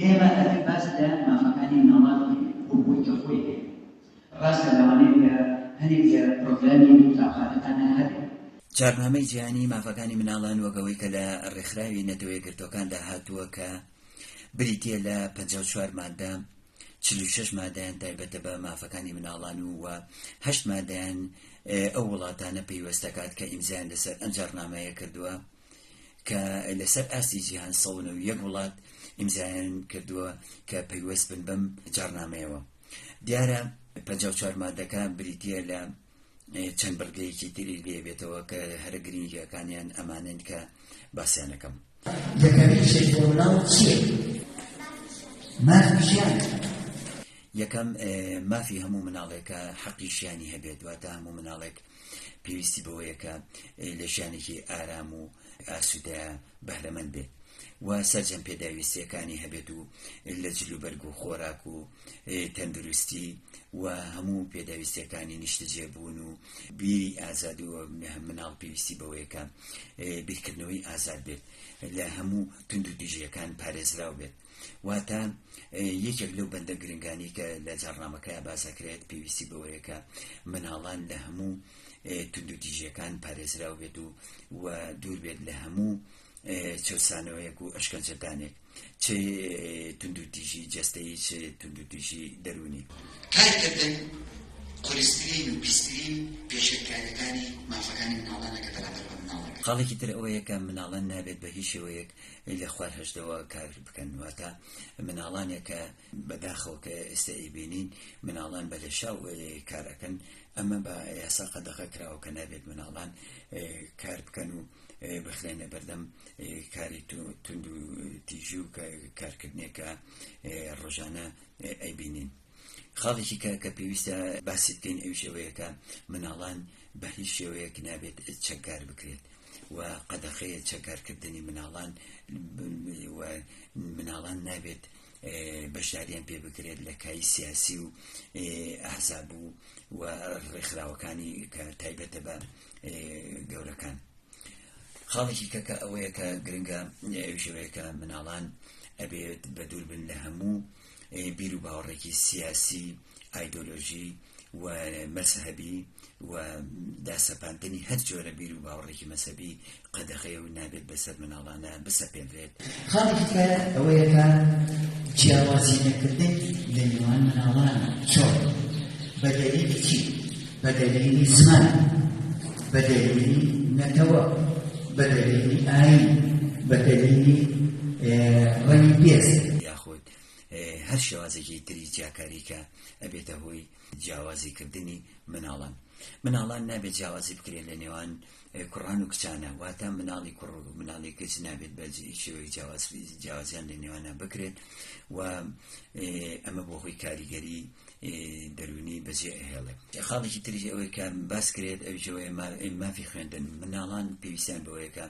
ئێمە ئەبێ باس لە مافەکانی مناڵان بکەین بۆ خۆی کە خۆی هەیە. ڕاستە لەوانەیە کە هەنێک لە پرۆگرامی ئەو قوتابخانەتانە هەبێ. جاڕنامەی جیهانی مافەکانی مناڵان وەک ئەوەی کە لە ڕێکخراوی نەتەوە یەکگرتووەکاندا هاتووە کە بریتییە لە پەنجا و چوار مادە، چل و شەش مادەیان تایبەتە بە مافەکانی مناڵان و و هەشت مادەیان ئەو وڵاتانە پەیوەست دەکات کە ئیمزایان لەسەر ئەم جاڕنامەیە کردووە. کە لەسەر ئاستی جیهان سەد و نەوەد و یەک وڵات ئیمزایان کردووە کە پەیوەست بن بەم جاڕنامەیەوە. دیارە پەنجا و چوار مادەکە بریتییە لە چەند بڕگەیەکی تری لێبێتەوە کە هەرە گرنگیەکانیان ئەمانن کە باسیانەکەم. یەکەم، مافی هەموو مناڵێکە حەقی ژیانی هەبێت، واتە هەموو مناڵێک پێویستی بەوەیە کە لە ژیانێکی ئارام و ئاسوودە بەهرەمەند بێت و سەرجەم پێداویستیەکانی هەبێت و لە جلوبەرگ و خۆراک و تەندروستی و هەموو پێداویستیەکانی نیشتەجێبوون و بیری ئازاد و مناڵ پێویستی بەوەیەکە بیرکردنەوەی ئازاد بێت لە هەموو تونند و تیژیەکان پارێزراو بێت واتە یەکێک لەو بەندە گرنگانی کە لە جاڕنامەکەیان باسەکرێت پێویستی بەوەیە کە مناڵان لە هەموو توندوتیژیەکان پارێزراو بێت و و دوور بێت لە هەموو چەسانەوەیەک و ئەشکەنجەدانێک چ توندوتیژی جستەی چ توندوتیژی دەرونی کارکردن قورسترین و پیسترین پێشێلکاریەکانی مافەکانی مناڵانەکە بەرامبەر بە مناڵەکە خاڵێکی تر ئەوەیە کە مناڵان نابێت بە هیچ شێوەیەک لە خوار هەژدەوە کار بکەن واتە مناڵانێک کە بەداخەوە کە ئێستا ئەیبینین مناڵان بە لەشاو کار ئەکەن ئەمە بە یاسا قەدەغە کراوە کە نابێت مناڵان کار بکەن و بخرێنە بەردەم کاری تونند و تیژی و کارکردنێکە ڕۆژانە ئەیبینین خاڵێکی کە کە پێویستە باسی بکەین ئەویش ئەوەیە کە مناڵان بە هیچ شێوەیەک نابێت چەکدار بکرێت و قەدەخەیە چەکارکردنی مناڵان و مناڵان نابێت بەشداریان پێ بکرێت لە کای سیاسی و ئەحزاب و و ڕێکخراوەکانی کە تایبەتە بە گەورەکان خاڵێکی کەکە ئەوەیە کە گرنگە ئەویشەوەیە کە مناڵان ئەبێت بە دوور بن لە هەموو بیر و باوەڕێکی سیاسی، ئایدۆلۆژی و مەزهەبی و داسەپاندنی هەر جۆرە بیر و باوەڕێکی مەزهەبی قەدەغەیە و نابێت بەسەر منداڵانە بسەپێنرێت. خاڵێکی تر ئەوەیە کە جیاوازی نەکردن لە نێوان منداڵان چۆن؟ بە دەلیلی چی؟ بە دەلیلی زمان، بە دەلیلی نەتەوە، بە دەلیلی ئایین، بە دەلیلی ڕەنگی پێست، خۆت هەر شێوازێکی تری جیاکاری کە ئەبێتە هۆی جیاوازی کردنی مناڵان مناڵان نابێت جیاوازی بکرێت لە نێوان کوڕان و کچانە واتە مناڵی کوڕ و مناڵی کچ نابێت بە شێوەی جیاوازیان لە نێوانە بکرێت و ئەمە بۆ هۆی کاریگەری دەروونی بەجێ ئەهێڵێت خاڵێکی تریژ ئەوەی کە باس کرێت ئەوجەوەی مافی خوێندن مناڵان پێویستیان بەوەیەکە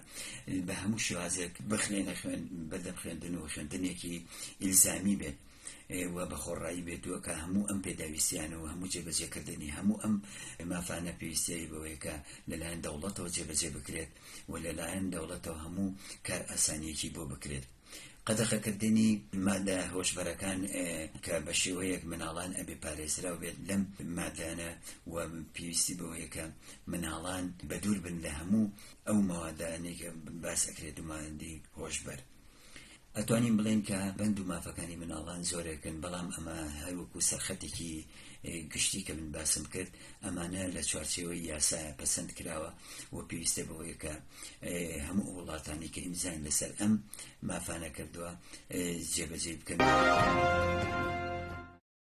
بە هەموو شێوازێک بخرێنە خوێن بەردەم خوێندن و خوێندنێکی ئیلزامی بێت و بە خۆڕایی بێتوە کە هەموو ئەم پێداویستیانە و هەموو جێبەجێکردنی هەموو ئەم مافانە پێویستیایی بەوەیەکە لەلایەن دەوڵەتەوە جێبەجێ بکرێت و لەلایەن دەوڵەتەوە هەموو کار ئاسانیەکی بۆ بکرێت قەدەخەکردنی مادە هۆشبەرەکان کە بە شێوەیەک مناڵان ئەبێ پارێزراو بێت لەم مادانە و پێویستی بەوەیە کە مناڵان بەدوور بن لە هەموو ئەو مەوادانێکە باس ئەکرێت و مادەی هۆشبەر ئەتوانین بڵێن کە بەند و مافەکانی مناڵان زۆرێکن بەڵام ئەمە هەروەکو سەرخەتێکی گشتی کە من باسم کرد ئەمانە لە چوارچێوەی یاسایە پەسەند کراوە و پێویستە بەوەیە کە هەموو وڵاتانی کە ئیمزایان لەسەر ئەم مافانە کردووە جێبەجێی بکەن.